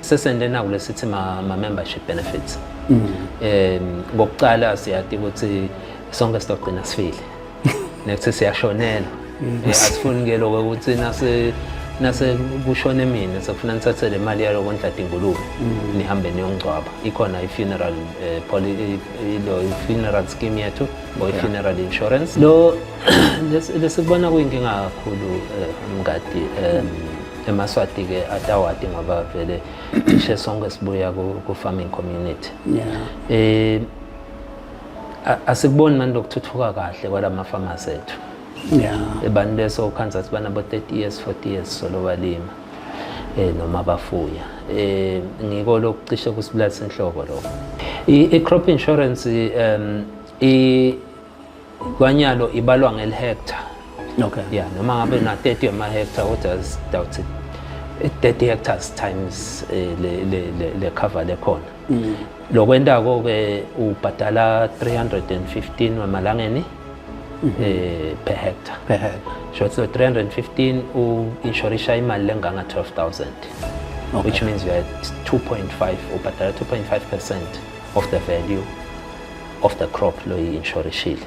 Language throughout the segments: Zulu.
sesende naku lesithi ma, ma membership benefits mm. eh ngokuqala siyati ukuthi sonke sizogcina sifile nekuthi siyashonela mm. eh, asifuni ke lokho ukuthi nase nase kushone mina sekufuna nithathe le mali yalo kondla dingulube mm. nihambe niyongcwaba ikhona i-funeral eh, ilo i-funeral scheme yethu or i-funeral insurance lo lesikubona kuyinkinga kakhulu eh, mngadi um emaswati ke atawati ngoba vele cishe sonke sibuya ku-farming community yeah. eh asikuboni manje lokuthuthuka kahle kwala mafamasi ethu yeah. abantu besokhanza siba nabo-30 years 40 years solo balima eh noma bafuya eh ngiko lokucishe kusibulalisa inhloko lokho i-crop insurance um i Kwanyalo ibalwa ngelihectare. Okay. Yeah, noma ngabe na 30 ama hectare kodwa sidawuthi 30 hectares times eh, le le le, le cover lekhona. Mm. Lokwentako ke ubhadala 315 wamalangeni. Mhm. eh per hectare per hectare so it's 315 u insurisha imali lenganga 12000 okay. which means you are at 2.5 ubhadala 2.5% of the value of the crop lo yi insurance shield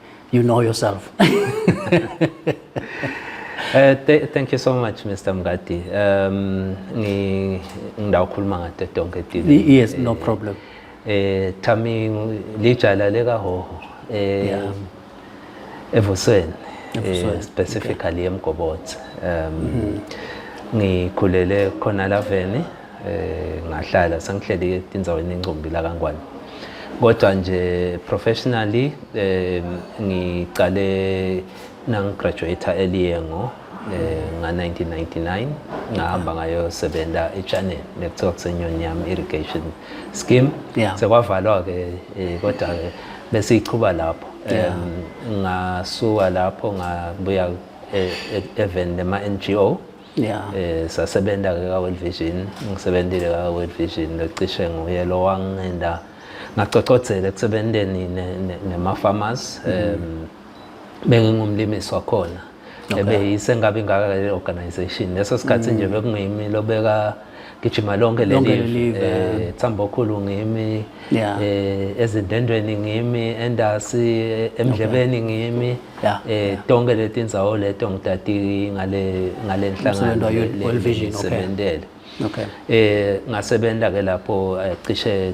you know yourself Uh, th thank you so much Mr Mngadi um ngidawukhuluma ngade donke dini yes no eh, problem eh thami lijala leka hoho eh yeah. evusweni eh, specifically okay. emgobotsi um mm -hmm. ngikhulele khona laveni eh ngahlala sengihleli etinzaweni encombi la kaNgwane kodwa nje professionally eh ngiqale nangigraduate earlier ngo eh nga 1999 ngahamba ngayo sebenza eChannel nekuthiwa kusenyoni yami irrigation scheme sekwavalwa ke eh, kodwa ke besiyichuba lapho ngasuka lapho ngabuya eh, e-, even nema NGO yeah. eh sasebenza ke ka World Vision ngisebenzile ka World Vision locishe nguye lo wangenda ngacocodzela ekusebenzeni nema farmers mm -hmm. um bengingumlimisi wakhona ebeyise ngabe ingaka le organization leso sikhathi nje bekungimi lobeka gijima lonke leli eh Tsambo khulu ngimi eh ezindendweni ngimi endasi eh, emdlebeni ngimi eh tonke letindzawo leto ngitati ngale ngale nhlangano World Vision okay sebenzele okay eh ngasebenza ke lapho eh, cishe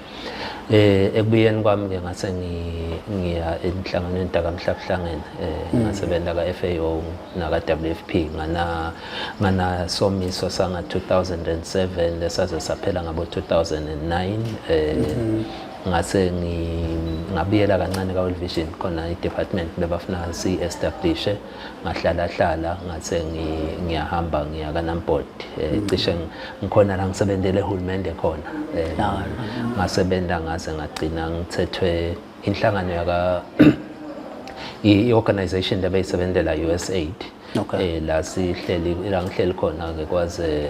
Eh ekubuyeni kwami ke ngase ngiya enhlanganweni dakamhlabuhlangene eh mm. ngasebenza ka FAO naka WFP ngana ngana somiso sanga 2007 lesaze saphela ngabo 2009 eh mm-hmm. ngase ngabuyela kancane ka World Vision khona i department bebafuna si establish ngahlala hlala ngase ngiyahamba ngiya kaNamport eh, mm. cishe ngikhona la ngisebenzele ehulumende khona eh, ngasebenza ngase ngagcina ngithethwe inhlangano yaka i-organization lebeyisebenzela USAID okay. eh la sihleli la ngihleli khona ke kwaze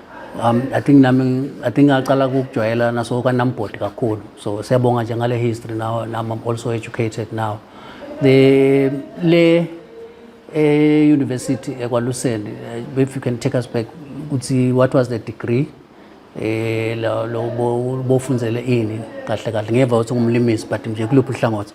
um, i think nami i think ngaqala ukujwayela naso kwanambhodi kakhulu so siyabonga nje ngale history now nam i'm also educated now the le e-university ekwaluseni eh, if you can take us back ukuthi what was the degree eh lo bofunzele ini kahle kahle ngeva ukuthi ngumlimisi but nje kuluphi uhlangothi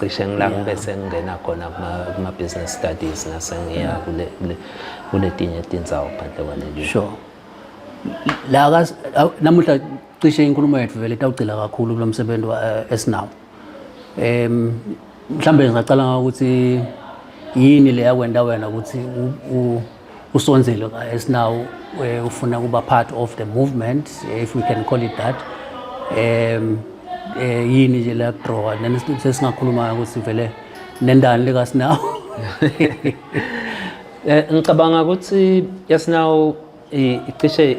cishe ngila ngibe sengingena khona kuma-business studies nasengiya kuletinye tindzawo phandle kwaleli sure la namuhla cishe inkulumo yethu vele itawugcila kakhulu kulo msebenzi eh, esinawo um mhlawumbe ngingacala ngokuthi yini le yakwenta wena ukuthi usonzelo as now eh, ufuna kuba part of the movement eh, if we can call it that um eh yini nje la draw then sesingakhuluma ukuthi vele nendani lika sinawo eh, ngicabanga ukuthi yasinawo icishe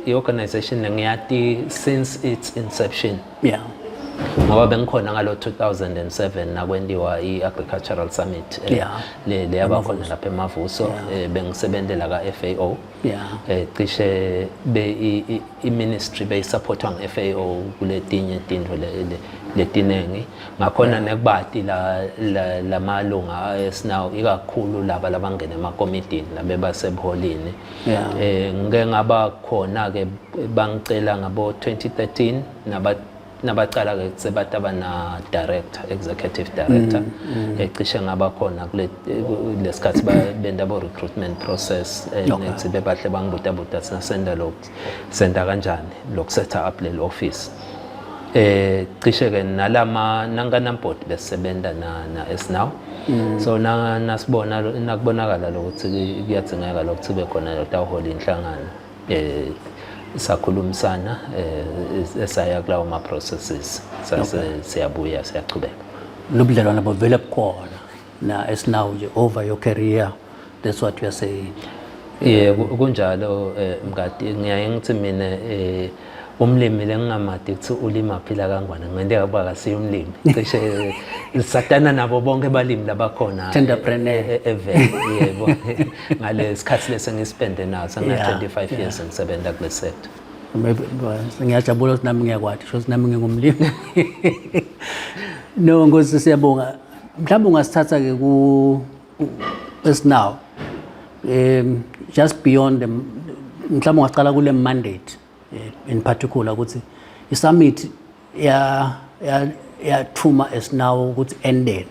i-organization ngiyati since its inception yeah ngoba bengikhona ngalo 2007 nakwendiwa i-agricultural summit eh, yeah. le le yabakhona lapha emavuso yeah. Eh, bengisebenzela ka FAO yeah. eh, cishe be i-ministry beyisupportwa nge-FAO kuletinye tindvo letiningi ngakhona yeah. nekubati la, la, lamalunga esinawo ikakhulu laba labangena emakomitini labebasebuholini yeah. eh ngike ngaba khona ke bangicela ngabo 2013 naba nabacala ke sebathi abana director executive director mm, mm. ecishe ngaba khona kule lesikhathi benda bo recruitment process eh, nethi bebahle bangibuta buta sina senda lo senda kanjani lo set up le office eh cishe ke nalama nankanambot besebenza na na esinawo Mm. so na nasibona nakubonakala lokuthi kuyadzingeka lokuthi kube khona lotawuhola inhlangano eh sakhulumisana eh, esaya kulawo ma processes sase siyabuya siyachubeka lobudlelwana bovele bukhona na esinawo nje over your career That's what we are saying. Yeah, kunjalo eh, mngadi ngiyaye ngithi mina eh umlimi lengingamadi ukuthi ulima phila kangwane ngende yakuba kasiyo umlimi cishe eh, satana nabo bonke balimi labakhona tenderpreneur eh, evele yebo ngale sikhathi lese ngisipende naso nga 25 years ngisebenza kule sector ngiyajabula ukuthi nami ngiyakwati shothi nami ngingumlimi no ngosi siyabonga mhlawumbe ungasithatha-ke ku as now um just beyond mhlawumbe ungaqala kule mandate eh, in particular ukuthi i-summit ya ya yathuma as now ukuthi endeni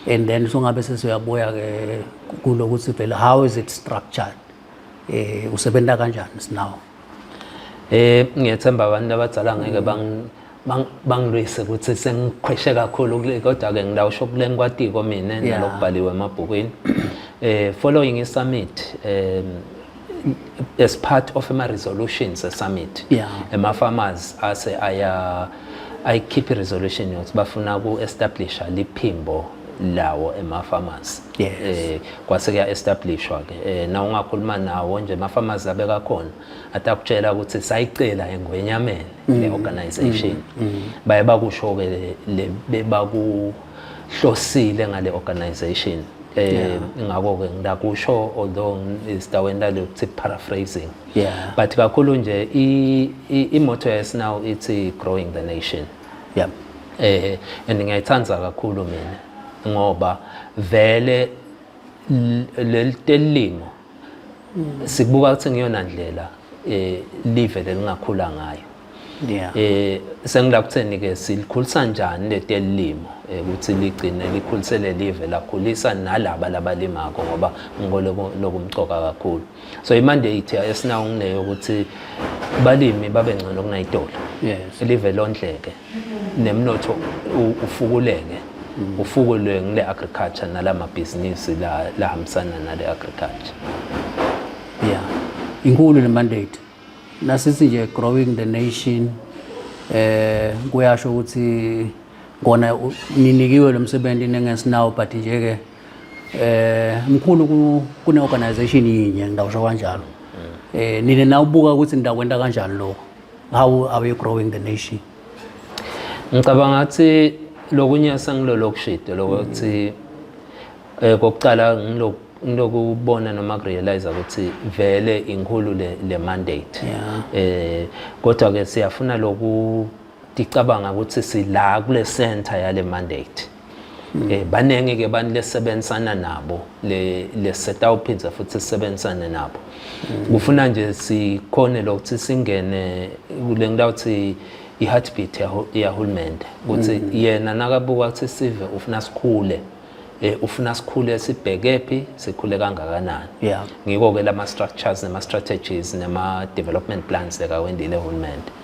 and then songabe sesiyabuya ke kulokuthi vele how is it structured eh usebenza kanjani sinawo eh ngiyethemba abantu abadala ngeke bang bangilwise ukuthi sengiqhweshe kakhulu kodwa ke ngilawusho kuleni kwatiko mina nalokubhaliwe emabhukwini eh following i summit um as part of ama resolutions e summit yeah. ema farmers ase aya ayikhiphe resolution yokuthi bafuna ku establisha liphimbo lawo emafamasi yes. eh kwase kuya establishwa ke eh na ungakhuluma nawo nje emafamasi abeka khona atakutshela ukuthi sayicela engwenyameni mm. le organization mm. mm. baye bakusho ke le bebaku hlosile ngale organization eh ngakho ke ngilakusho although isidaweni lale ukuthi paraphrasing yeah but kakhulu nje i motto yes now it's growing the nation yeah eh and ngiyayithanda kakhulu mina ngoba vele lelitelimo sikubuka ukuthi ngiyona ndlela eh live lelingakhula ngayo yeah eh sengila kutheni ke silikhulisa kanjani letelimo eh, ukuthi ligcine likhulisele live lakhulisa nalaba labalimako ngoba ngikho lokumcoka kakhulu so imandate esinawo ngileyo ukuthi balimi babe ngcono kunayitolo yes live londleke nemnotho ufukuleke mm. ufukulwe ngile agriculture nalama business la lahambisana nale agriculture yeah inkulu le mandate nasithi nje growing the nation eh kuyasho ukuthi kona ninikiwe lo msebenzi nengesinawo but nje ke eh mkhulu kune organization yinye ngidawusho kanjalo mm. eh nina nawubuka ukuthi ngidakwenta kanjani lo how are we growing the nation ngicabanga ukuthi lokunye sengilolo kushide lokuthi eh kokuqala ngilo ngilokubona noma kurealize ukuthi vele inkulu le, le mandate yeah. eh kodwa ke siyafuna loku ticabanga ukuthi sila kule center yale mandate Mm. Eh baningi ke abantu lesebenzisana nabo le lesetawuphindza futhi sisebenzisane nabo. Mm. Kufuna nje sikhone lokuthi singene kule ngilawuthi i-heartbeat yahulumende ukuthi mm. yena nakabuka ukuthi sive ufuna sikhule eh ufuna sikhule sibheke phi sikhule kangakanani ngiko ke lama structures nema strategies nema development plans leka wendile uhulumende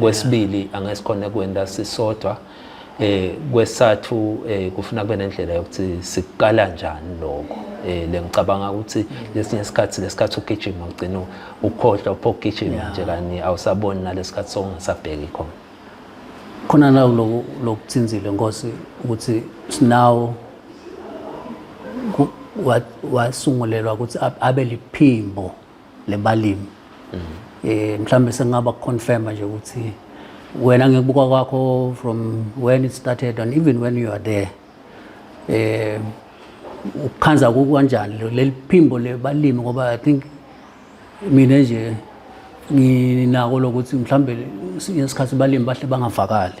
kwesibili angeke sikhone kwenda sisodwa eh kwesathu eh kufuna kube nendlela yokuthi sikukala njani lokho eh lengicabanga ukuthi lesinye isikhathi lesikhathi ugijima ugcina ukhohlwa uphokugijima nje kani awusaboni nalesikhathi songasabheki khona khona la lokhu lokuthinzile nkosi ukuthi sinawo wasungulelwa ukuthi abe liphimbo le balimi eh mhlambe sengaba confirm nje ukuthi wena ngikubuka kwakho from when it started and even when you are there eh ukhanza kukanjani leli phimbo lebalimi ngoba i think mina nje nginako lokuthi mhlambe ngesikhathi balimi bahle bangavakali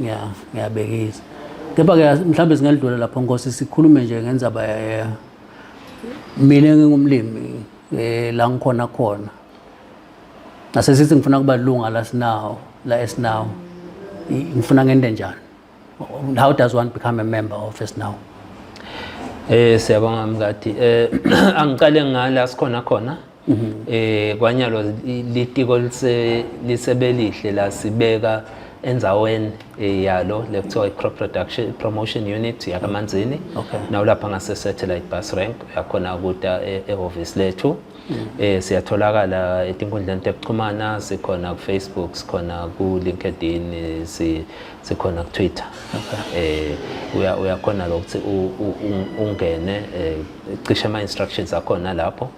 ngiya ngiyabekisa kepha-ke mhlawumbe singalidlula lapho nkosi sikhulume nje ngenzaba eh, mina ngingumlimi um la ngikhona khona nasesithi ngifuna kuba lunga la sinawo la esinawo ngifuna ngende njani how does one become a member of esinawo Eh siyabonga mngadi. Eh angiqale ngala sikhona khona. Mhm. eh kwanyalo litiko lise lisebelihle la sibeka enzaweni eh, yalo lekuthiwa i-crop production promotion unit yakamanzini okay. nawulapha ngase-satellite bus rank uyakhona kuta eh, ehhovisi lethu mm. eh siyatholakala etinkundleni tekuxhumana sikhona kufacebook sikhona kulinkedin sikhona kutwitter okay. eh uyakhona lokuthi ungene eh, cishe ama-instructions akhona lapho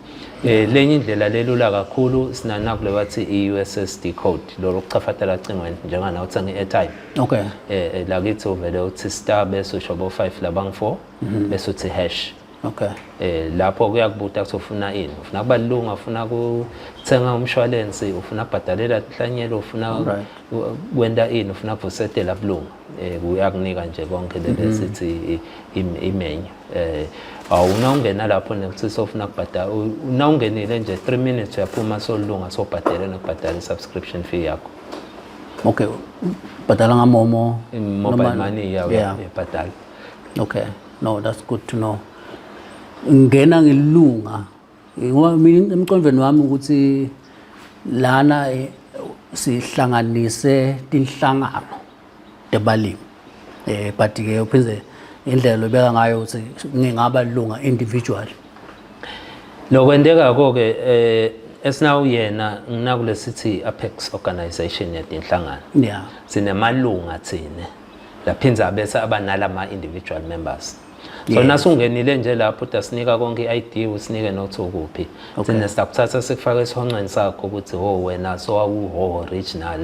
Eh lenye indlela lelula kakhulu sinana kule bathi iUSSD code lo lokuchafatela ocingweni njenga na uthenga iairtime. Okay. Eh, eh la kithi uvele uthi star bese usho bo 5 labang 4 mhm. bese uthi hash. Okay. Eh lapho kuyakubuta ukuthi ufuna ini. Ufuna kubalunga, ufuna ukuthenga umshwalense, ufuna kubhadalela inhlanyelo, ufuna kwenda ini, ufuna kuvusetela bulunga. eh uyakunika nje konke le mhm. sithi imenyu eh awuna ungena lapho nekuthi sofuna kubhadala una ungenile nje 3 minutes uyaphuma solunga sobhadela nokubhadala i-subscription fee yakho okay bhadala ngamomo mobile money yawo yabhadala okay no that's good to know ngena ngilunga Ngoba mina emqondweni wami ukuthi lana eh, sihlanganise tinhlangano tebalimi eh but ke uphinde indlela lobeka ngayo ukuthi ngingaba lunga individual lokwenteka konke eh esinawu yena nginakulesithi Apex organization yatinhlangano yeah sinemalunga thina laphinza bese abanalama individual members so naso ungenile nje lapho udasinika konke i-id usinike nokuthi ukuphi thina sakuthatha sikufaka esihonqweni sakho ukuthi ho oh, wena so awuho original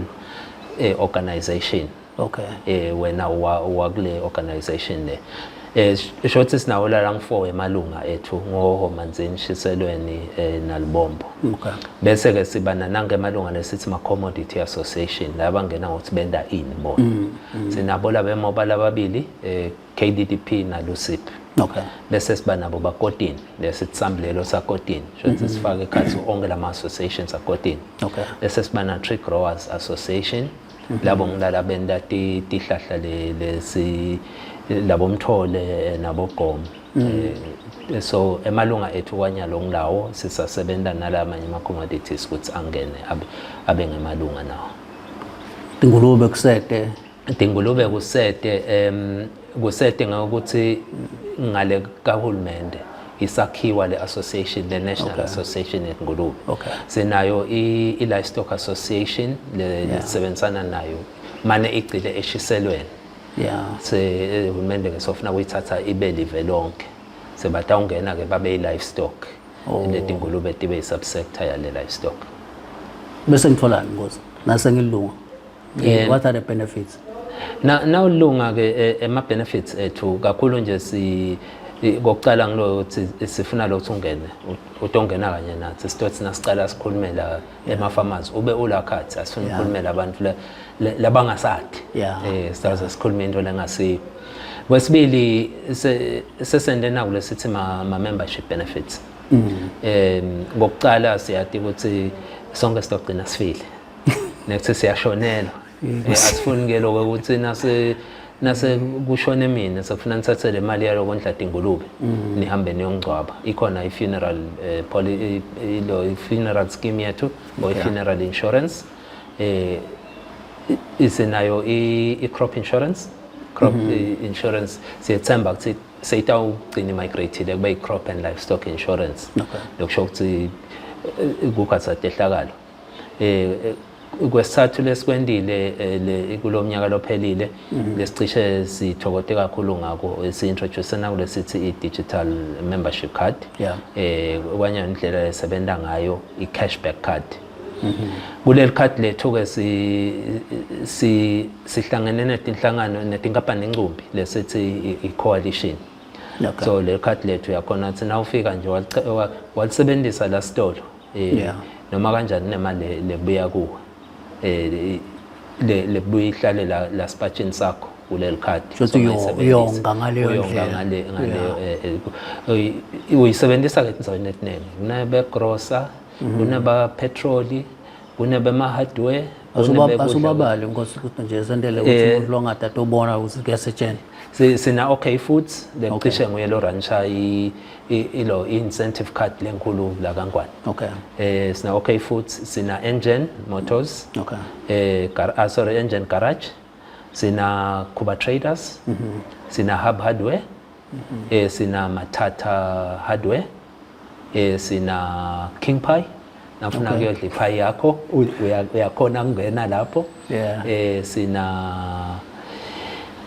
eh, organization okay eh wena wakule organization le eh isho ukuthi sinawo la ngifo emalunga ethu ngoho manzini shiselweni eh, nalibombo okay bese ke siba nanange emalunga lesithi ma commodity association laba ngena ngokuthi benda in bona mm, mm. sinabo laba emoba lababili eh KDDP naLUCIP okay. bese siba nabo bakotini bese sisambulelo sakotini shothi mm-hmm. sifake ekhathi onke lama associations akotini okay. bese siba na tree growers association mm-hmm. labo ngilala benta tihlahla lesi labo mthole nabo gom mm-hmm. eh, so emalunga ethu kwanyalo ngilawo sisasebenza nalamanye ama commodities ukuthi angene abe ngemalunga nawo ingulube kusete Dingulube kusete um kusete ngokuthi ngale kahulumende isakhiwa le association le national okay. association yengulube okay. sinayo i-livestock association lesebenzisana yeah. nayo mane igcile eshiselweni yeah. se eh, uhulumende ke sofuna kuyithatha ibe live lonke sebatawungena ke babe i-livestock oh. letingulube tibe i-subsector yale livestock bese ngitholani ngozi nase ngilunga Yeah. What are the benefits? Na nawulunga ke eh, ema benefits ethu kakhulu nje si kokucala ngilo ukuthi sifuna lo ukuthi ungene utongena kanye nathi sithothi sina sicala sikhulume la ema farmers ube ula card asifuna ukukhulumela abantu labangasathi eh sizaze sikhulume into lengasiko kwesibili sesende naku lesithi ma membership benefits mm. em ngokucala siyati ukuthi sonke sitogcina sifile nekuthi siyashonelwa Eh, asifuni ke lokho ukuthi nase nase kushone mina sekufuna nithathe le mali yalo kondla dingulube mm. nihambe niyongcwaba ikhona i-funeral eh, poli- i- ilo i-funeral scheme yethu or i-funeral insurance eh i- isenayo i- i-crop insurance crop Mm-hmm. i- insurance siyethemba ukuthi seyitawugcina imigrate-ile kube i-crop and livestock insurance Okay. lokusho ukuthi eh, kukhatha tehlakalo eh kwesithathu lesikwendile eh, kulo mnyaka lophelile mhm. lesicishe sithokote kakhulu ngako si-introduce nakulesithi i-digital membership card eh kwanye indlela esebenza ngayo i-cashback card mhm. kuleli card lethu-ke sihlangene netinhlangano netinkampani incumbi lesithi i-coalition so leli card lethu yakhona ukuthi na ufika nje walisebenzisa la sitolo eh yeah. noma kanjani nemali lebuya kuwe eh le lebuya ihlale la la spatchini sakho kuleli khadi futhi uyonga ngaleyo ndlela ngale ngaleyo eh, eh, uyisebenzisa ke endaweni etiningi kunebe grocer mm-hmm. kuneba petrol kunebe ma hardware asubabali nkosi ukuthi nje sendele ukuthi eh, umuntu longada tobona ukuthi kuyasetshenzwa sina okay futhi bengicishe nguye lo rancha ilo incentive card lenkulu la kaNgwane okay eh sina okay futhi sina engine motors okay eh gar ah, sorry engine garage sina Kuba traders mm -hmm. sina hub hardware mm -hmm. eh sina mathatha hardware eh sina king pie nafuna okay. kuyodla iphayi yakho uyakhona kungena lapho yeah. eh sina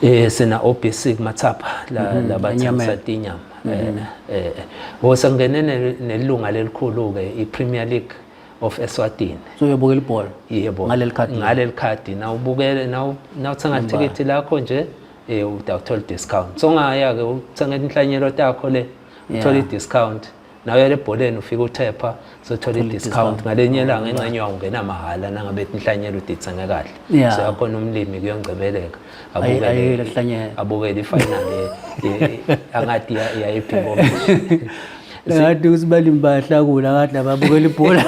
eh sina obisi kumathapha la mm -hmm. labathengisa tinyama mm -hmm. eh eh sengene nelunga lelikhulu ke iPremier League of Eswatini so uyobukela ibhola yebo ngaleli card ngaleli card na ubukele na uthenga ticket lakho nje eh utawuthola discount so ngaya ke uthenga inhlanyelo takho le uthole i-discount nawe yale ebholeni ufike uthepha sothola i-discount ngalenye langa enxenye wawo ungena mahhala nangabe inhlanyelo udithenge kahle so yakhona umlimi kuyongcebeleka abukele ifinali angathi yayiphingo ngathi ukuthi balimi bayahlakula ngathi lababukela ibhola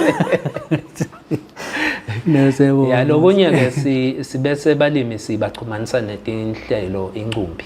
nesebo yalokunye-ke sibese balimi sibaxhumanisa netinhlelo inkumbi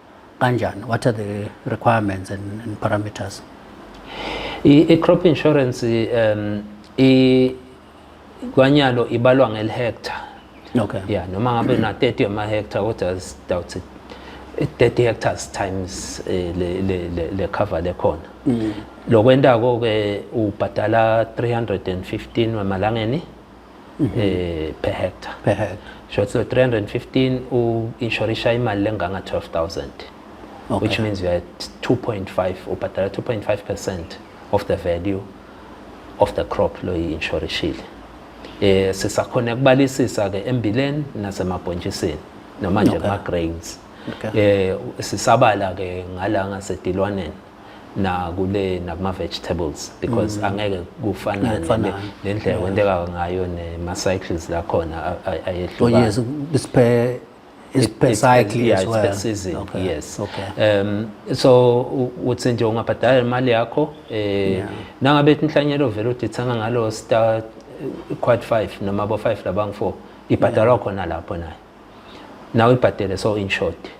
kanjani what are the requirements and, and parameters i-crop insurance um i kwanyalo ibalwa ngelihectare okay yeah noma ngabe na 30 ama hectare kodwa doubt 30 hectares times eh, le le le cover lekhona mm. lokwentako ke ubhadala 315 wemalangeni eh per hectare per hectare so 315 u insurisha imali lenganga 12000 okay. which means you are 2.5 ubhadala 2.5% of the value of the crop lo yi-insurishile eh sisakhona ukubalisisa ke embileni nasemabhontshisini noma nje okay. ama grains okay. eh sisabala ke ngala ngasedilwaneni nakule nakuma vegetables because mm. angeke kufana nendlela kwenteka ngayo nema cycles la khona ayehlukana oh yes isiphe isiphe cycle yeah, as well season okay. yes okay. um so uthi nje ungabhadala imali yakho eh yeah. nangabe inhlanyelo vele udithanga ngalo star quad 5 noma bo 5 labangu 4 ibhadalwa khona lapho nayo nawe ibhadele so in short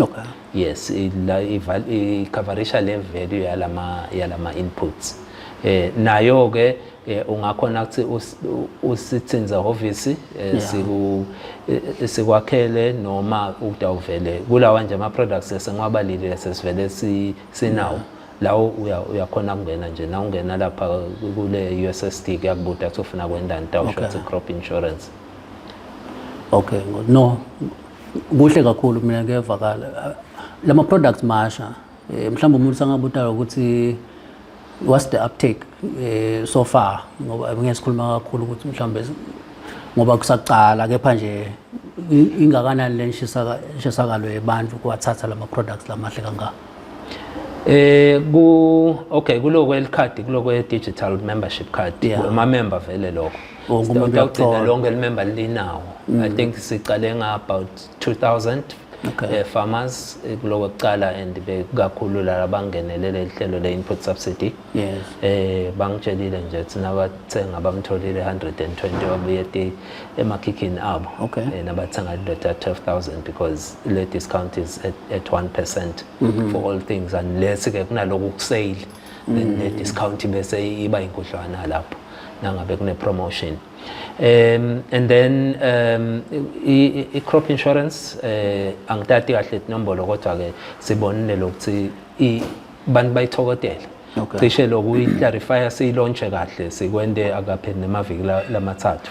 okay yes la icoverisha le value yalama yalama inputs eh nayo ke eh, ungakhona ukuthi usithinze hhovisi eh, siku eh, sikwakhele noma ukudawuvele kulawa nje ama products esengiwabalile sesivele sinawo lawo uyakhona kungena nje na ungena lapha kule USSD kuyakubuda ukuthi ufuna kwendani tawusho ukuthi crop insurance okay no kuhle kakhulu mina kuyevakala lama products masha eh, mhlawumbe umuntu sangabutala ukuthi what's the uptake eh, so far ngoba ngeke sikhuluma kakhulu ukuthi mhlawumbe ngoba kusaqala kepha nje ingakanani le nshisakalo yebantu kuwathatha lama products lamahle kangaka Eh ku okay kuloko elikhadi kuloko digital membership card amamember vele lokho wonke umuntu Sitawugcina uyakuthola lonke limemba linawo i think siqale nga about 2000 Okay. eh, farmers eh, kuloko kuqala and bekakhulu lala bangenelele ihlelo le input subsidy yes eh bangitshelile nje thina abathenga bamtholile 120 wabuye ti emakhikhini abo Okay. eh, nabathenga indoda 12000 because le discount is at, at 1% for all things unless ke kunaloku kusale then the discount bese iba inkudlwana lapho nangabe kune promotion um and then um i crop insurance eh angitati kahle inombolo kodwa ke sibonile lokuthi i bantu bayithokotela cishe lokuyi clarify siyilaunche kahle sikwende akaphe nemaviki lamathathu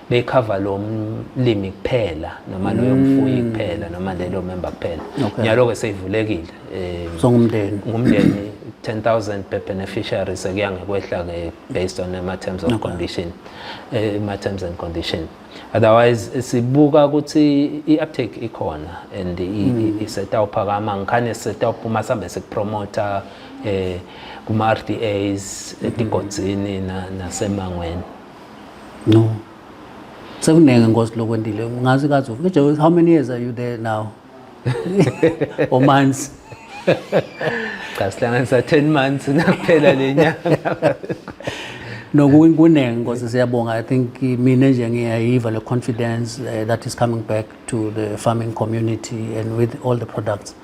beyikhava lo mlimi kuphela noma loyo mm. mfuyi kuphela noma lelo member kuphela nyalo-ke seyivulekile um so ngumndeni ngumndeni 10000 per beneficiary sekuya ngekwehla-ke based on ama-terms of condition eh, ama-terms and condition otherwise sibuka ukuthi i-uptake ikhona and mm. isetawuphakama ngikhane setawuphuma sihambe sikupromotha um eh, kuma-r d as mm-hmm. etigodzini nasemangweni no sekuningi nkosi lokwendile ngazi kazi ufike how many years are you there now or months cha sihlanganisa 10 months nakuphela le nyanga no kuningi nkosi siyabonga i think mina nje ngiyayiva le confidence uh, that is coming back to the farming community and with all the products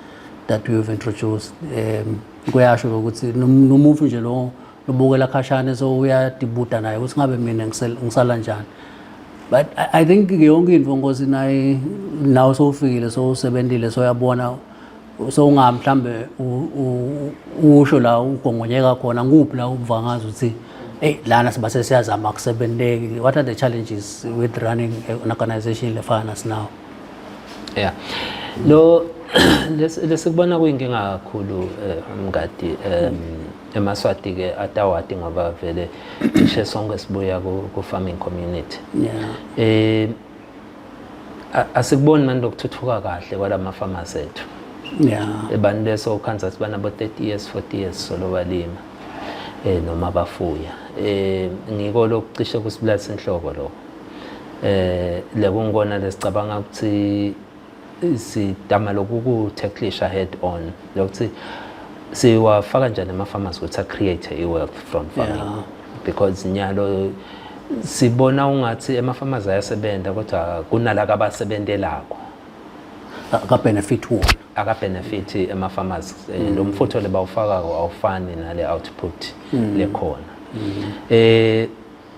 that we have introduced um kuyasho ukuthi nomuntu nje lo lubukela khashane so uyadibuda naye ukuthi ngabe mina ngisala njani but i think yonke into ngosi naye nawe sowufikile sowusebenzile soyabona so unga mhlambe usho la ugongonyeka khona nguphi la ubuva ngazi ukuthi hey lana siba sesiyazama kusebenzeki what are the challenges with running an organization lefana sinawo yeah lo lesikubona kuyinkinga kakhulu eh, mngadi um emaswati-ke atawati ngoba vele cishe sonke sibuya ku-farming community yeah. eh, asikuboni manje lokuthuthuka kahle kwala mafamasi ethu yeah. abantu besokhansa sibanabo 30 years 40 years solo balima eh noma bafuya eh ngiko lokucishe kusibulalisa inhloko lokho eh lekungikona lesicabanga ukuthi sidama lokuku-tacklisha head on lokuthi siwafaka njani ama-farmers ukuthi a-create i-wealth from farming yeah. because nyalo sibona ungathi ema-farmers ayasebenza kodwa kunalaka abasebentelako akabenefit wona akabenefit ema-farmers eh, mm. lo mfutho le bawufakako awufani nale output mm. lekhona mm. eh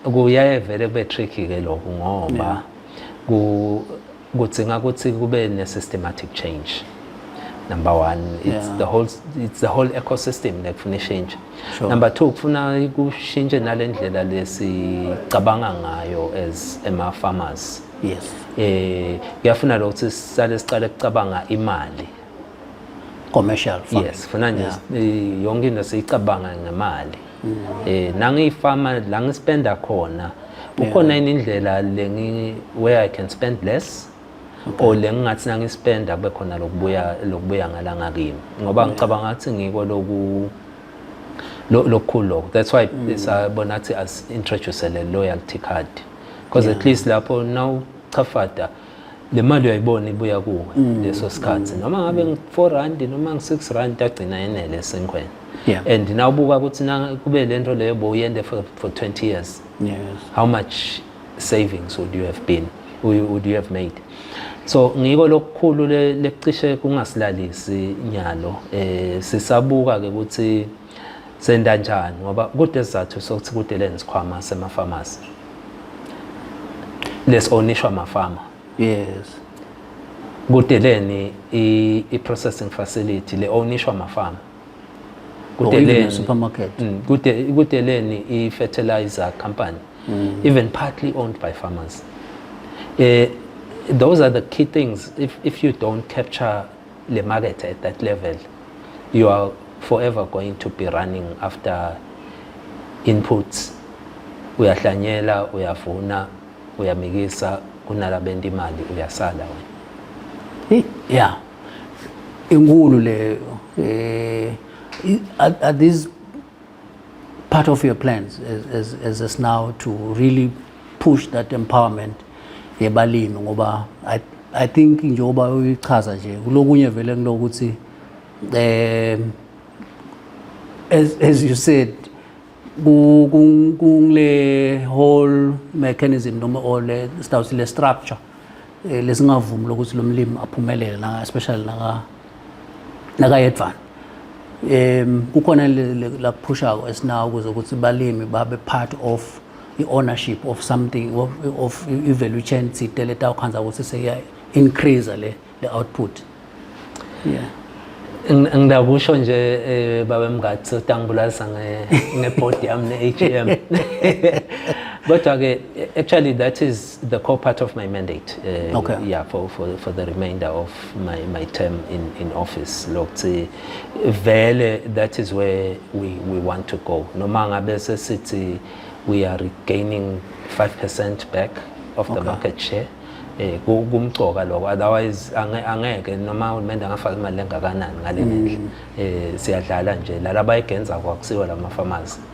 kuyaye vele kube tricky ke lokho ngoba ku kudzinga ukuthi kube ne-systematic change number one it's yeah. the whole it's the whole ecosystem lekufuna ishintshe sure. number two kufuna kushintshe nale ndlela lesicabanga ngayo as ema-farmers yes eh kuyafuna lo ukuthi sisale siqale kucabanga imali commercial farming yes funa nje yeah. yonke into siyicabanga ngemali mm. eh nangiyifama la ngispenda khona kukhona yini indlela lengi where i can spend less or lengingathi nangispenda kube khona lokubuya lokubuya ngalanga kimi ngoba ngicabanga ukuthi ngiko loku lokukhulu lokho that's why mm. sabona ukuthi as introduce le loyalty card because at least lapho now chafada le mali uyayibona ibuya kuwe mm. leso sikhathi mm. noma ngabe ngi-four rand noma ngi-six rand agcina enele esenkhweni yeah. and nawubuka ukuthi kube le nto leyo bowuyende for, for 20 years yes. how much savings would you have been would you have made so ngiko lokukhulu lekucishe kungasilalisi nyalo eh sisabuka ke ukuthi Senda njani ngoba kude sizathu sokuthi kude le nisikhwama sema pharmacy. Les onishwa mafama. Yes. Kudeleni i, i processing facility le onishwa mafama. Kudeleni supermarket. Mm, kude kudeleni i fertilizer company. Mm. Even partly owned by farmers. Eh those are the key things if if you don't capture le market at that level you are forever going to be running after inputs uyahlanyela uyavuna uyamikisa kunalabenta imali uyasala wena yeah inkulu leyo eh are these Part of your plans as, as, as us now to really push that empowerment yebalimi ngoba I, I think njengoba uyichaza nje kulokunye vele kulokuthi eh as, as you said kule whole mechanism noma or le sitawuthi le structure eh, lesingavumi lokuthi lo mlimi aphumelele especially naka nakayedvana um kukhona lakuphushako esinawo ukuze ukuthi balimi babe part of i-ownership of something of, of i-value chain thite letawukhandza ukuthi seya-increase le, le output yeah ngidakusho nje eh, baba mngathi utangibulalisa ngebhodi yami ne-h m kodwa-ke actually that is the core part of my mandate uh, okay. yeah for, for for the remainder of my my term in in office lokuthi vele that is where we we want to go noma ngabe sesithi we are regaining 5% back of the okay. market share eh kumcoka lokho otherwise angeke noma uhulumende angafaka imali engakanani ngale mm. ndlela eh siyadlala nje lalabayigenza kwakusiwa lama farmers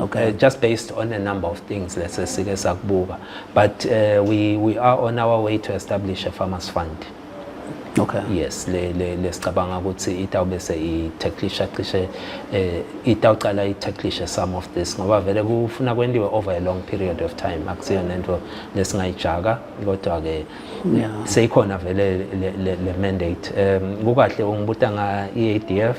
Okay, uh, just based on a number of things let's say sike sakubuka but uh, we, we are on our way to establish a farmers fund okay yes le le lesicabanga ukuthi itawube se i-tacklisha cishe eh itawuqala i-tacklisha some of this ngoba vele kufuna kwendiwe over a long period of time akusiyona into lesingayijaka kodwa ke seyikhona vele le mandate um kukahle ungibuta nga-EADF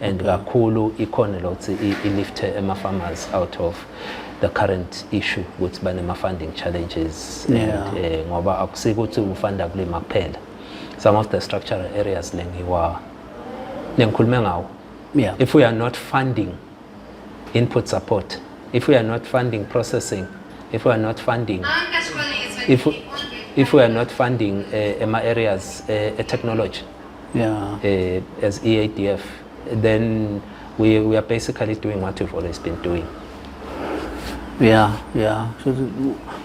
and mm-hmm. kakhulu ikhona lokuthi ilifte ema-farmers out of the current issue ukuthi banema-funding challenges and eh, ngoba akusike ukuthi ufunda kulima kuphela some of the structural areas lengiwa nengikhulume ngawo yeah. if we are not funding input support if we are not funding processing if we are not funding if, if we are not funding uh, eh, ema areas uh, technology yeah. uh, as EADF, then we, we are basically doing what we've always been doing. Yeah, yeah.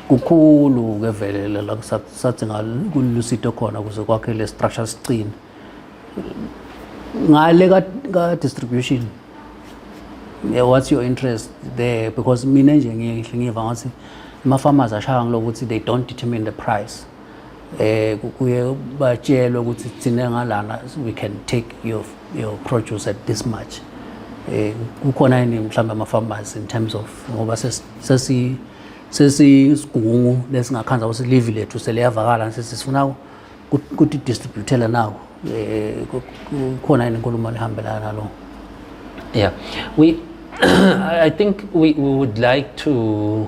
Kukhulu ke vele la sathi ngalusito khona kuze kwakhe le structure siqine. Ngale ka, ka distribution. Yeah, what's your interest there because mina nje ngiyihle ngiva ngathi ama farmers ashaya ngilokuthi they don't determine the price. eh kuye batshelwe ukuthi thina ngalana we can take your your produce at this much eh kukhona yini mhlawumbe ama farmers in terms of ngoba sesi sesigungu lesingakhanza ukuthi live lethu seliyavakala sesifuna ukuthi distributela nawo eh kukhona yini inkulumo ehambelana nalo yeah we i think we, we would like to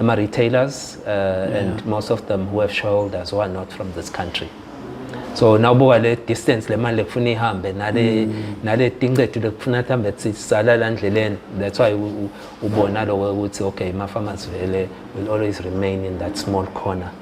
ama-retailers uh, yeah. and most of them who have shareholders who are not from this country so nawubuka le distance le mali lekufuna ihambe nale mm. nale tincedu lekufuna kuhambe sisala la ndleleni that's why ubona lokho ukuthi okay ma farmers vele will always remain in that small corner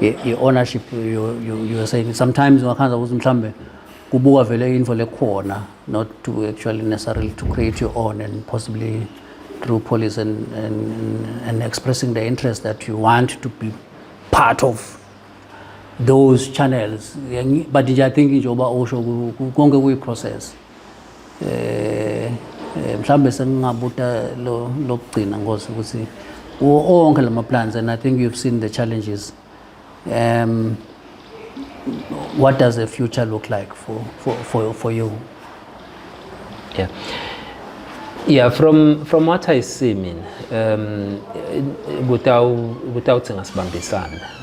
i-ownership you're saying sometimes ungakhanza ukuthi mhlambe kubuka vele info lekhona not to actually necessarily to create your own and possibly through police and, and, and expressing the interest that you want to be part of those channels but nje i think njengoba usho konke kuyi-process eh, eh mhlambe sengingabuta lo lokugcina ngosi ukuthi onke lama plans and i think you've seen the challenges um what does the future look like for for for, for you yeah yeah from from what i see mean um without without singasibambisana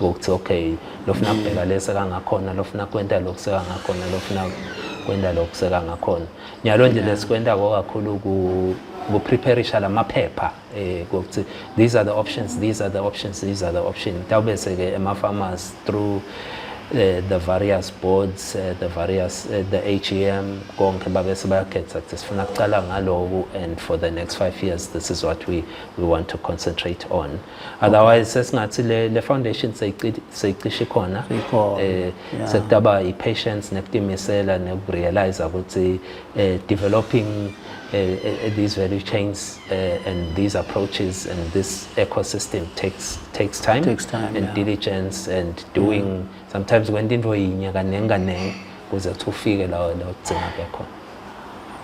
ukuthi okay lofuna mm. kubheka lesa kangakhona lofuna kwenta lokhu sekangakhona lofuna kwenta lokhu sekangakhona nyalo nje lesikwenta ko kakhulu ku kupreparisha lamaphepha eh ukuthi these are the options these are the options these are the options tawube seke ema farmers through uh, the various boards uh, the various uh, the AGM konke babe sebakhetha ukuthi sifuna kuqala ngaloku and for the next 5 years this is what we we want to concentrate on otherwise sesingathi le le foundation seyicishe khona eh sekutaba i patience nekutimisela nekurealize ukuthi eh, developing eh, eh, these value chains uh, and these approaches and this ecosystem takes takes time, takes time and yeah. diligence and doing yeah. Mm. sometimes when into yinye kaningi kaningi kuze kuthi ufike la la ugcina bekhona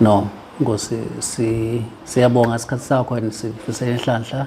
no ngosi siyabonga isikhathi sakho and sifisela inhlanhla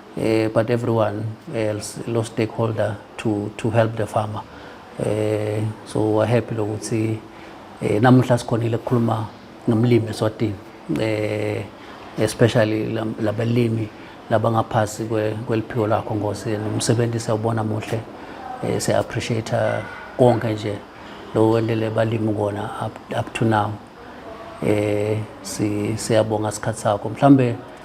uh, but everyone else lo stakeholder to to help the farmer uh, so we're happy lokuthi uh, eh, namuhla sikhonile ukukhuluma nomlimi eSwatini uh, especially labalimi labangaphasi kweliphiko lakho ngosi nomsebenzi siyawubona muhle uh, siya appreciate konke nje lo wendele balimi kona up, up to now eh siyabonga isikhathi sakho mhlambe